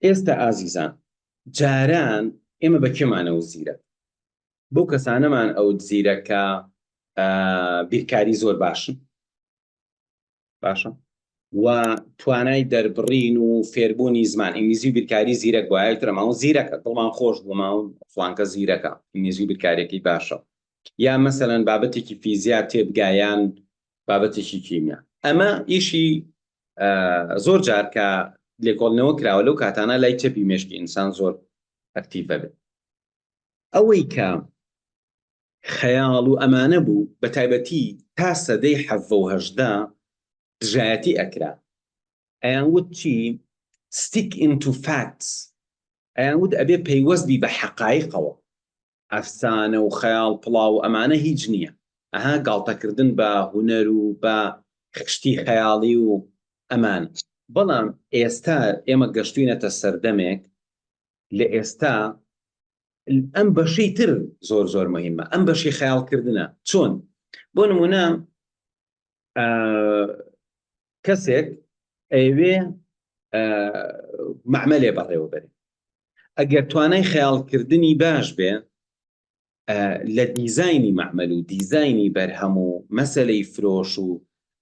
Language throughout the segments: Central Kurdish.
ئێستا ئازیزان جاران ئێمە بە کێمان ئەوت زیرەک؟ بەو کەسانەمان ئەوت زیرەک کە بیرکاری زۆر باشن باشە و توانای دەربڕین و فێربوونی زمان ئینگلیزی و بیرکاری زیرەک بایە ترە ماوە زیرەکە دڵمان خۆش بووما و فلانکە زیرەکە ئینگلیزی و بیرکارێکی باشە یا مەسەلەن بابەتێکی فیزیا تێبگایان بابەتێکی کیمیا ئەمە ئیشی زۆر جار کە لێکۆڵنەوە کراوە لەو کاتانە لای چەپی مێشکی ئینسان زۆر ئەکتیڤە بێت ئەوەی کە خەیاڵ و ئەمانە بوو بە تایبەتی تا سەدەی حەڤهدا دژایەتی ئەکرا ئەیان وت چی ستیک ئینتو فاکس ئەیان وت ئەبێ پەیوەستبی بە حەقایقەوە ئەفسانە و خەیاڵ پڵاو و ئەمانە هیچ نیە ئەها گاڵتە کردن بە هونەر و بە خشتی خەیاڵی و ئەمان. بەڵام ئێستا ئێمە گەشتوینەتە سەردەمێک لە ئێستا ئەم بەشەی تر زۆر زۆر مەهیمە ئەم بەشی خەیاڵ کردنە چۆن بۆ نمونە کەسێک ئەیەوێ معمەلێ بەڕێوە بەرێ ئەگەر توانای خەیاڵکردنی باش بێ لە دیزایانی معمەل و دیزایانی بەرهەم و مەسلەی فرۆش و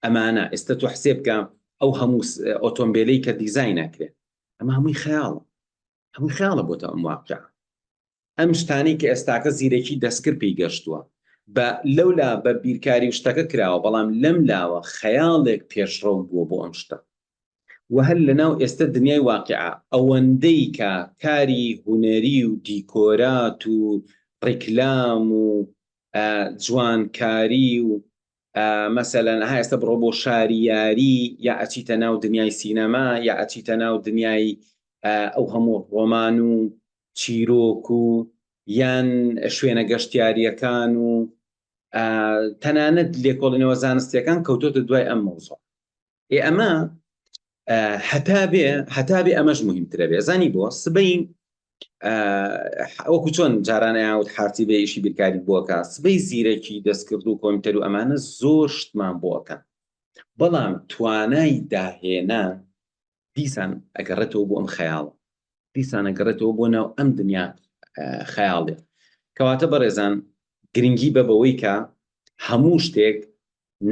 ئەمانە ئێستا تو حسێ بکە ئەو هەموو ئۆتۆمبیلی کە دیزای ناکرێت ئەمە هەمووی خەیاڵ ئەمە خەیاڵە بۆتە ئەم واقع ئەم شتانی کە ئێستاکە زیرەکی دەستکرد پێی گەشتووە بە لەولا بە بیرکاری و شتەکە کراوە بەڵام لەم لاوە خەیاڵێک پێشڕەو بووە بۆ ئەم شتە و هەر لە ناو ئێستا دنیای واقعە ئەوەندەی کە کاری هوەری و دیکۆرات و ڕیکلام و جوانکاری و مەسەلەن ئەها ئێستا بڕۆ بۆ شاری یاری یا ئەچیتە ناو دنیای سینەما یا ئەچیتە ناو دنیای ئەو هەموو ڕۆمان و چیرۆک و یان شوێنە گەشتیاریەکان و تەنانەت لێکۆڵینەوە زانستیەکان کەوتۆتە دوای ئەم مەوزۆ ئێ ئەمە هەتا بێ هەتا بێ ئەمەش مهمترە بێ زانی بۆ سبەی ئەوکو چۆن جارانەیاوت حارتی بێ ئیشی بیرکاری بۆکە سبەی زیرەکی دەستکرد و کۆمتەر و ئەمانە زۆر شتمان بۆکە بەڵام توانای داهێنا دیسان ئەگەڕێتەوە بۆ ئەم خەیاڵە دیسانە گەڕێتەوە بۆ ناو ئەم دنیا خەیاڵێ کەواتە بەڕێزان گرنگی بە بەوەی کە هەموو شتێک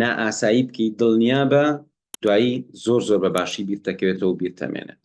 نائاسایی بکەیت دڵنیابە دوایی زۆر زۆر بە باشی بیرتەکەوێتەوە و بیرتەمێنێت.